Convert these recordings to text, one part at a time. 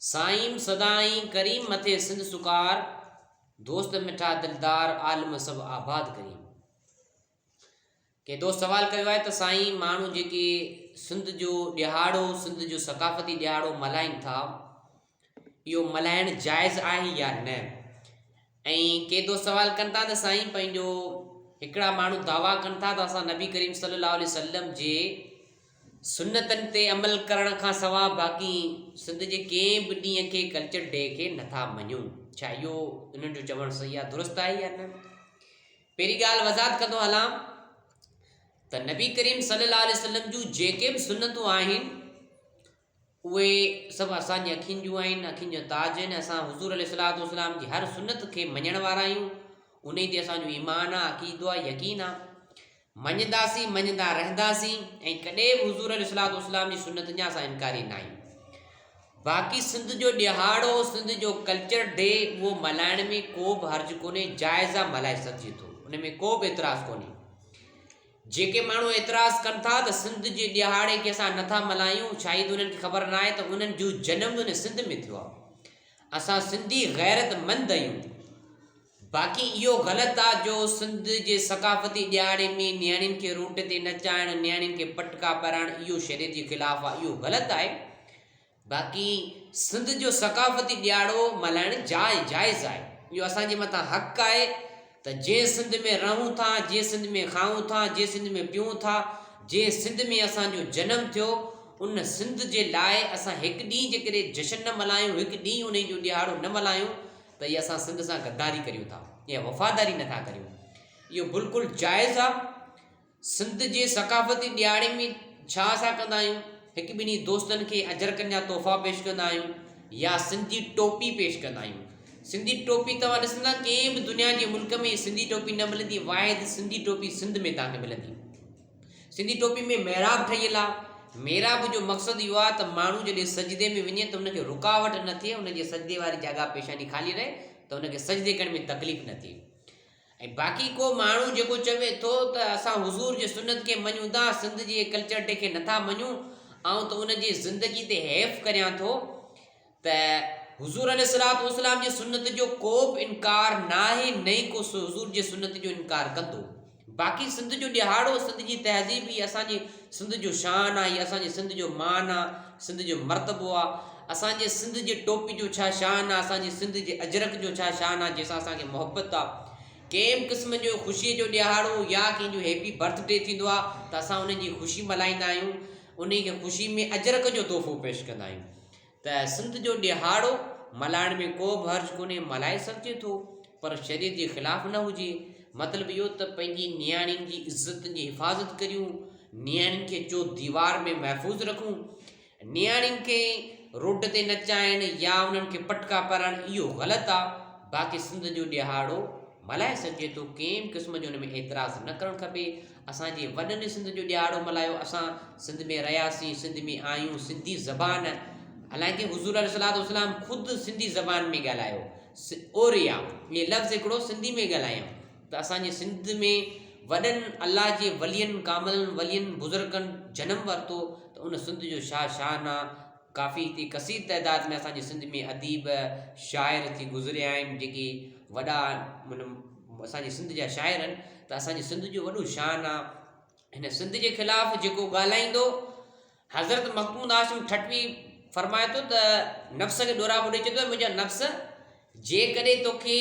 سائين سدائين ڪريم مٿي سنڌ سڪار دوست مٺا دلدار عالم سڀ آباد ڪريم ڪي دوست سوال ڪيو آهي ته سائين ماڻهو جيڪي سنڌ جو ڏهاڙو سنڌ جو ثقافتي ڏهاڙو ملهائين ٿا اهو ملهائڻ جائز آهي يا نه ائين ڪي دوست سوال ڪن ٿا ته سائين پنهنجو هڪڙا ماڻهو دعويٰ ڪن ٿا ته اسان نبي ڪريم صلي الله عليه وسلم جي سنتن تي عمل ڪرڻ کان سواء باقي سنڌ جي ڪنهن به ڏينهن کي ڪلچر ڊي کي نٿا مڃون ڇا اهو انهن جو چوڻ صحيح آهي درست آهي يا نه پهرين ڳالهه وضاحت ڪندو هلان ته نبي ڪريم صلي الله عليه وسلم جون جيڪي به سنتون آهن اهي سڀ اسان جي اکين جون آهن، اکين جو تاج آهن، اسان حضور عليه الصلوة والسلام جي هر سنت کي مڃڻ وارا آهيون، انهي تي اسان جو ايمان آ، عقيدو آ، يقين آ، مڃداسين، مڃدا رهنداسين ۽ ڪڏهن به حضور عليه الصلوة والسلام جي سنتن جا اسان انڪاري نه آهيون. باقي سنڌ جو ڏهاڙو، سنڌ جو ڪلچر ڊي اهو ملهائڻ ۾ ڪو به حرج ڪونهي، جائز آ ملهائي سگهجي ٿو، ان ۾ ڪو به اعتراض ڪونهي. جيڪي ماڻهو اعتراض ڪن ٿا ته سنڌ جي ڏهاڙي کي اسان نٿا ملهايون شايد انهن کي خبر ناهي ته انهن جو جنم ان سنڌ ۾ ٿيو آهي اسان سنڌي غيرت مند آهيون باقي اهو غلط آهي جو سنڌ جي ثقافتي ڏهاڙي ۾ نياڻين کي روٽ تي نچائڻ نياڻين کي پٽڪا پرائڻ اهو شريعت جي خلاف آهي اهو غلط آهي باقي سنڌ جو ثقافتي ڏياڙو ملهائڻ جاء جائز آهي اهو اسان جي مٿان حق آهي ته جنهن سنڌ ۾ رهون ٿا جنهن سنڌ ۾ کائون ٿا جنهن سنڌ ۾ پيئون ٿا جنهن سنڌ ۾ اسان جو جنم ٿيو ان سنڌ جي لاء اسان هڪ ڏينهن جي ڪري جشن نه ملهايون هڪ ڏينهن انهي جو ڏيهاڙو نه ملهايون ته اهي اسان سنڌ سان غداري ڪريون ٿا يا وفاداري نٿا ڪريون اهو بلڪل جائز آهي سنڌ جي ثقافتي ڏيھاڙي ۾ ڇا اسان ڪندا آھيون ھڪ ٻنھي دوستن کي اجرڪن جا تحفا پيش ڪندا آھيون يا سنڌي ٽوپي پيش ڪندا آھيون سنڌي ٽوپي توھان ڏسندا ڪنھن به دنيا جي ملڪ ۾ سنڌي ٽوپي نه ملندي واحد سنڌي ٽوپي سنڌ ۾ توھان کي ملندي سنڌي ٽوپي ۾ محراب ٺھيل آ محراب جو مقصد اھو آ ته ماڻھو جڏھن سجدي ۾ وڃي ته ان کي رڪاوٽ نه ٿئي ان جي سجدي واري جاڳا پيشاني خالي رھي ته ان کي سجدي ڪرڻ ۾ تڪليف نه ٿئي. ۽ باقي ڪو ماڻهو جيڪو چوي ٿو ته اسان حضور جي سنت کي مڃون ٿا سنڌ جي ڪلچر ڊي کي نٿا مڃون آئون ته ان جي زندگي تي حيف ڪريان ٿو ته حضور عليه الصلات والسلام جي سنت جو ڪو به انڪار ناهي نه ئي ڪو حضور جي سنت جو انڪار ڪندو باقي سنڌ جو ڏهاڙو سنڌ جي تهذيب هي اسان جي سنڌ جو شان آ هي اسان جي سنڌ جو مان آ سنڌ جو مرتبو آ اسان جي سنڌ جي ٽوپي جو ڇا شان آ اسان جي سنڌ جي اجرڪ جو ڇا شان آ جنهن سان اسان کي محبت آ ڪنهن به قسم جو خوشي جو ڏيهاڙو يا ڪنهن جو هيپي برٿ ڊي ٿيندو آ ته اسان انهن جي خوشي ملهائيندا آهيون انهي کي خوشي ۾ اجرڪ جو تحفو پيش ڪندا آهيون ته سنڌ جو ڏيهاڙو ملهائڻ ۾ ڪو به حرج ڪونهي، ملهائي سگهجي ٿو، پر شريعت جي خلاف نه هجي. مطلب اهو ته پنهنجي نياڻين جي عزت جي حفاظت ڪريون، نياڻين کي چوٿ ديوار ۾ محفوظ رکون، نياڻين کي روڊ تي نچائڻ يا انهن کي پٽڪا پارائڻ اهو غلط آ، باقي سنڌ جو ڏيهاڙو ملهائي سگهجي ٿو، ڪنهن به قسم جو ان ۾ اعتراض نه ڪرڻ کپي. اسان جي وڏن سنڌ جو ڏيهاڙو ملهايو اسان سنڌ ۾ رهياسين سنڌ ۾ آهيون سنڌي زبان حالانڪه حضور عليه الصلوۃ والسلام خود سنڌي زبان ۾ ڳالهايو اوريا ۾ لفظ هڪڙو سنڌي ۾ ڳالهايائون ته اسانجي سنڌ ۾ وڏن الله جي ولين ڪاملن ولين بزرگن جنم ورتو ته ان سنڌ جو شاهه شاهانه ڪافي اتي ڪثير تعداد ۾ اسان جي سنڌ ۾ اديب شاعر اتي گذريا آهن جيڪي وڏا مطلب اسان جي سنڌ جا شاعر آهن ته اسان جي سنڌ جو وڏو شان آ هن سنڌ جي خلاف جيڪو ڳالهائيندو حضرت مخدوم هاشم ٺٽوي فرمائي ٿو ته نفس کي ڏورا ٻڏي چوي ٿو منهنجا نفس جيڪڏهن توکي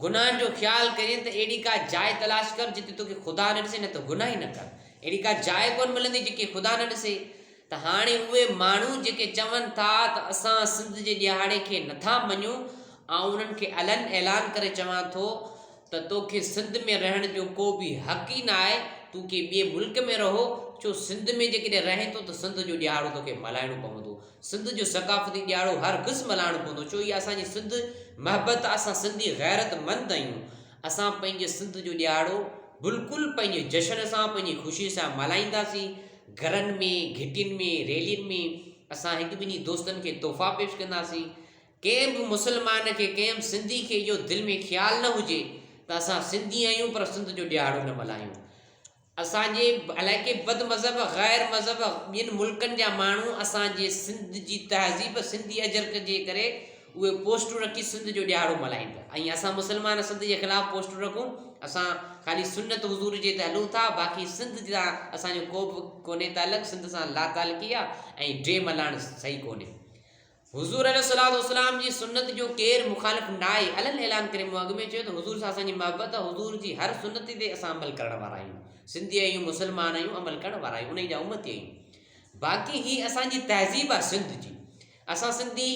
گناهن جو خيال ڪرين ته اهڙي ڪا جاء تلاش ڪر جتي توکي خدا نه ڏسي نه ته گناهه ئي نه ڪر. اهڙي ڪا جاء ڪونه ملندي جيڪي خدا نه ڏسي. ته هاڻي اهي ماڻهو جيڪي چون ٿا ته اسان سنڌ جي ڏيهاڙي کي نٿا مڃون آئون انهن کي علن اعلان ڪري چوان ٿو ته توکي سنڌ ۾ رهڻ جو ڪو به حق ئي ناهي تون ڪنهن ٻئي ملڪ ۾ رهو ڇو سنڌ ۾ جيڪڏهن رهين ٿو ته سنڌ جو ڏيهاڙو توکي ملهائڻو پوندو سنڌ جو ثقافتي ڏياڙو هر گز ملهائڻو پوندو ڇو اها اسان جي سنڌ محبت آ اسان سنڌي غيرت مند آهيون اسان پنهنجي سنڌ جو ڏياڙو بلڪل پنهنجي جشن سان پنهنجي خوشي سان ملهائينداسين گهرن ۾ گهٽين ۾ ريلين ۾ اسان هڪ ٻنهي دوستن کي تحفا پيش ڪنداسين ڪنهن به مسلمان کي ڪنهن به سنڌي کي اهو دل ۾ خيال نه هجي ته اسان سنڌي آهيون پر سنڌ جو ڏياڙو نه ملهايون اسان جي الائي ڪي بد مذهب غير مذهب ٻين ملڪن جا ماڻهو اسان جي سنڌ جي تهذيب سنڌي اجرڪ جي ڪري اهي پوسٽون رکي سنڌ جو ڏيهاڙو ملهائين پيا ۽ اسان مسلمان سنڌ جي خلاف پوسٽون رکون اسان خالي سنت حضور جي تي هلون ٿا باقي سنڌ جا اسان جو ڪوبه ڪونهي تعلق سنڌ سان لاتعلقي آ ۽ ڊي ملاڻ صحيح ڪونهي حضور عليه الصلوة والسلام جي سنت جو ڪير مخالف ناهي علي الاعلان ڪري مون اڳ ۾ چيو ته حضور سان اسان جي محبت ته حضور جي هر سنت تي اسان عمل ڪرڻ وارا آهيون سنڌي آهيون مسلمان آهيون عمل ڪرڻ وارا آهيون انهي جا امتي آهيون باقي هي اسان جي تهذيب آهي سنڌ جي اسان سنڌي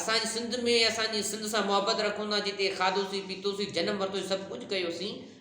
اسان جي سنڌ ۾ اسان جي سنڌ سان محبت رکون ٿا جتي کاڌوسي پيتوسي جنم ورتوسي سڀ ڪجهه ڪيوسين